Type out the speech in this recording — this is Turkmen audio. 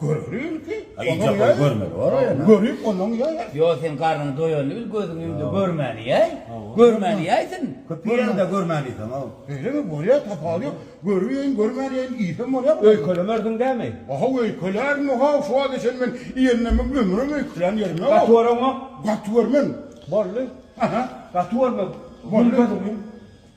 Göreli bil ki, onuň ýaý. Görüp onuň ýaý. Ýo, sen garnyň doýalyny bil, gözüň indi görmäni ýaý. Görmäni ýaý sen. Köp ýerde görmäni ýaý. Beýlemi bolýar, tapawudy ýok. Görüp ýaýyn, görmän ýaýyn iýsem bolýarmy? Öýkelemersiň dämi? Aha, öýkelärin, ha, şu wagta çenli men iýenimem, ömrüm öýkelän ýerim ýok. Gaty görüňok? Gaty görmen. Boldy. Gaty görme. Boldy.